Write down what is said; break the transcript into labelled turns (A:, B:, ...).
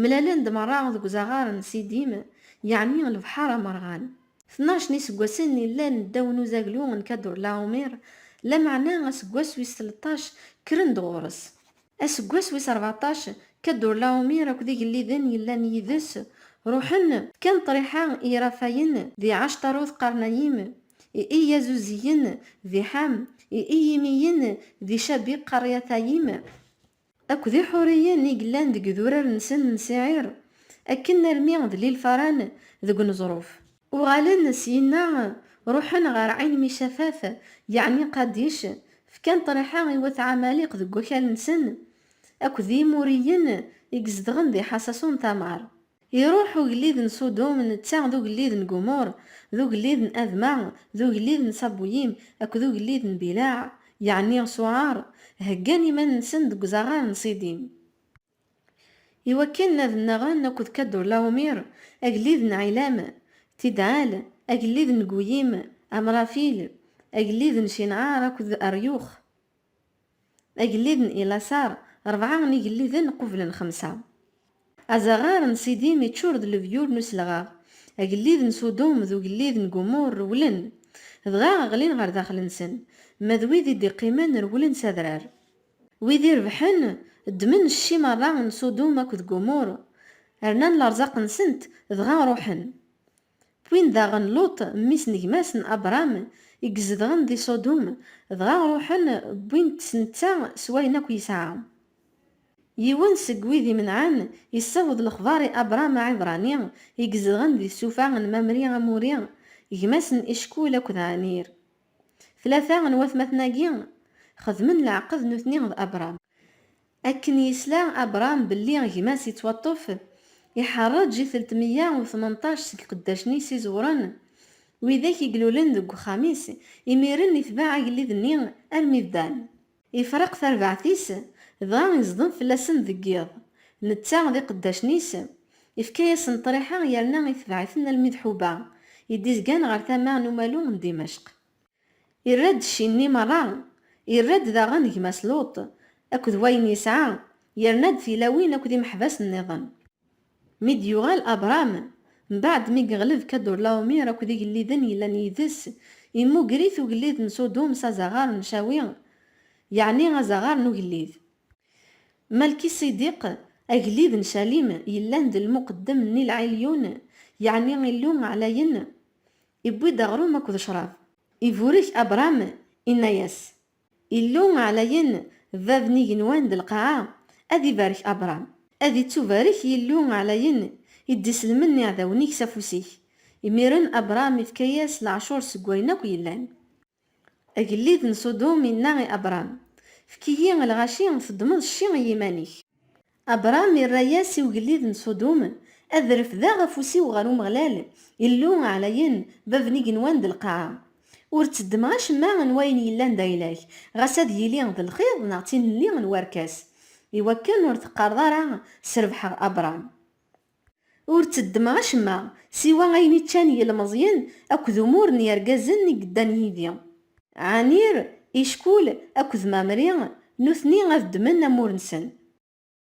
A: Mlalen-d merra deg uzaɣar n Sidim, yeɛni lebḥer amerɣan. Tnac n yiseggasen i llan ddaw n uzaglu n Kadurlaumir, lameɛna aseggas wis tleṭṭac kkren-d ɣur-s. Aseggas wis rbeɛṭac, Kadurlaumir akked igelliden yellan yid-s ruḥen, fkan ṭriḥa i Irafayen di Ɛactarut Qarnayim, i Iyazuziyen di Ḥam, i Iyimiyen di Cabiq Qarryatayim, Akked Iḥuriyen i yellan deg idurar-nsen n Siɛir, akken almi d Lilfaran deg uneẓruf. Uɣalen syenna, ruḥen ɣer Ɛinmicatat, yeɛni Qadic, fkan ṭriḥa i wat Ɛamaliq deg wakal-nsen, akked Yimuriyen i izedɣen di Ḥasasun-Tamar. Iruḥ ugellid n Ṣudum, netta d ugellid n Gumur, d ugellid n Adma, d ugellid n Ṣabuyim akked ugellid n Bilaɛ, yeɛni Ṣuɛar, heggan iman-nsen deg uzaɣar n Ṣidim, i wakken ad nnaɣen akked Kadurlaumir, agellid n Ɛilam, Tidɛal, agellid n Guyim, Amrafil, agellid n Cinɛar akked Aryux. Agellid n Ilasar, rebɛa n igelliden qublen xemsa. Azaɣar n Sidim iččur d lebyur n uselɣaɣ. Agellid n Sudum d ugellid n Gumur rewlen, dɣa ɣlin ɣer daxel-nsen, ma d wid i d-iqqimen rewlen s adrar. Wid irebḥen, ddmen cci merra n Sudum akked Gumur, rnan lerẓaq-nsent, dɣa ruḥen. D win daɣen Luṭ, mmi-s n gma-s n Abṛam, i izedɣen di Ṣudum, dɣa ṛuḥen wwin-t s netta s wayen akk yesɛa. Yiwen seg wid imenɛen yessaweḍ lexbaṛ i Abṛam Aɛibṛani i izedɣen di tsufa n Mamri Amuri, gma-s n Icekul akked Ɛanir. Tlata n watmaten-agi xedmen leɛqed nutni d Abṛam. Akken yesla Abṛam belli gma-s yettwaṭṭef, iḥerreǧ i teltmeyya u tmenṭac seg iqeddacen-is iẓewren, widak i ilulen deg uxxam-is, imiren itbeɛ agellid-nni armi d Dan. Ifreq tarbaɛt-is, dɣa iẓdem fell-asen deg yiḍ, netta d iqeddacen-is, ifka-yasen ṭṭriḥa yerna itbeɛ-iten almi d Ḥuba, i d-izgan ɣer tama n umalu n Dimecq. Irra-d cci-nni merra, irra-d daɣen gma-s Luṭ akked wayen yesɛa, yerna-d tilawin akked imeḥbas nniḍen. Mi d-yuɣal Abṛam, mbaɛd mi yeɣleb Kadurlaumir akked igelliden yellan yid-s, immuger-it ugellid n Sudum s azaɣar n Cawi, yeɛni azaɣar n ugellid. Malkiṣidiq, agellid n Calim, yellan d lmuqeddem n Il Ɛilyun, yeɛni Illu Ɛlayen, Iwwi-d aɣrum akked ccrab. Iburek Abṛam, inna-yas, Illu Ɛlayen, Bab n igenwan d lqaɛa, ad ibarek Abṛam. Ad ittubarek Yillu Ɛlayen, i d-iselmen iɛdawen-ik s afus-ik. Imiren Abṛam ifka-yas leɛcur seg wayen akk yellan. Agellid n Ṣudum inna i Abṛam, Efk-iyi lɣaci, teddmeḍ cci i yiman-ik. Abṛam irra-yas i ugellid n Ṣudum, Ad refdeɣ afus-iw ɣer Umeɣlal, Illu aɛlayen, Bab n igenwan d lqaɛa. Ur tteddmeɣ acemma n wayen yellan d ayla-k, ɣas ad yili d lxiḍ neɣ d tinelli n werkas. Iwakken ur teqqareḍ ara, Srebḥeɣ Abṛam. Ur tteddmeɣ acemma, siwa ayen i ččan yilmeẓyen akked umur n yergazen i yeddan yid-i. Ɛanir, Ickul akked Mamri, nutni ad ddmen amur-nsen.